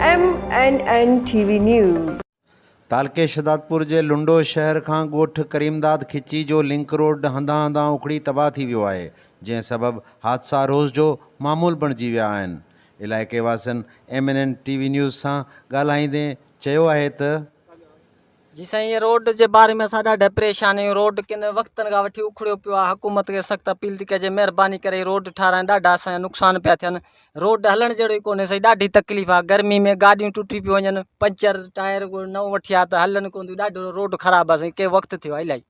M N N T V news. تعلقي شھدادپور جي لنڊو شهر کان ڳوٺ ڪريمداد کچي جو لنڪ روڊ هنڌان هنڌان اکڙي تباهه ٿي ويو آهي، جنهن سبب حادثا روز جو معمول بڻجي ويا آهن. علائقي واسين M N N T V news سان ڳالهائيندي چيو آهي ته، جي سائين روڊ جي باري ۾ اسان ڏاڍا پريشان آهيون روڊ ڪن وقتن کان وٺي اکڙيو پيو آهي حڪومت کي سخت اپيل ٿي ڪجي مهرباني ڪري روڊ ٺاهرائين ڏاڍا اسان جا نقصان پيا ٿين روڊ هلڻ جهڙو ئي ڪونهي سائين ڏاڍي تڪليف آهي گرمي ۾ گاڏيون ٽٽي پيون وڃن پنچر ٽائر نئون وٺيا ته هلن ڪون ٿيون ڏاڍو روڊ خراب آهي سائين ڪئين وقت ٿيو آهي الاهي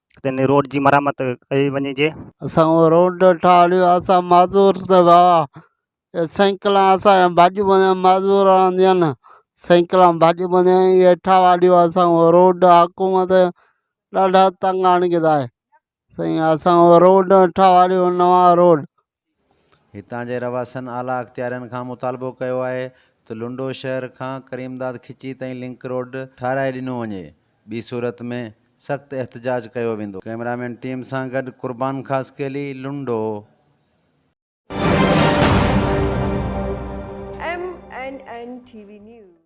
تي ان روڊ جي مرمت ڪئي وڃجي. اسان اهو روڊ ٺاهرايو اسان معذور ته ويا سينڪلان اسان جا ڀڄ وڃن معذور آندين سينڪلان ڀڄ وڃن اهي ٺاهرايو اسان اهو روڊ حڪومت ڏاڍا تنگ آڻي ڪيدا سائين اسان اهو روڊ ٺاهرايو نوان روڊ. هتان جي رهواسين اعليٰ اختيارين کان مطالبو ڪيو آهي ته لنڊو شهر کان ڪريمداد کچي تائين لنڪ روڊ ٺهرائي ڏنو وڃي ٻي صورت ۾ سخت احتجاج ڪيو ويندو. ڪئميرامين ٽيم سان گڏ Qurban Khaskheli, Lundo. M N N T V news.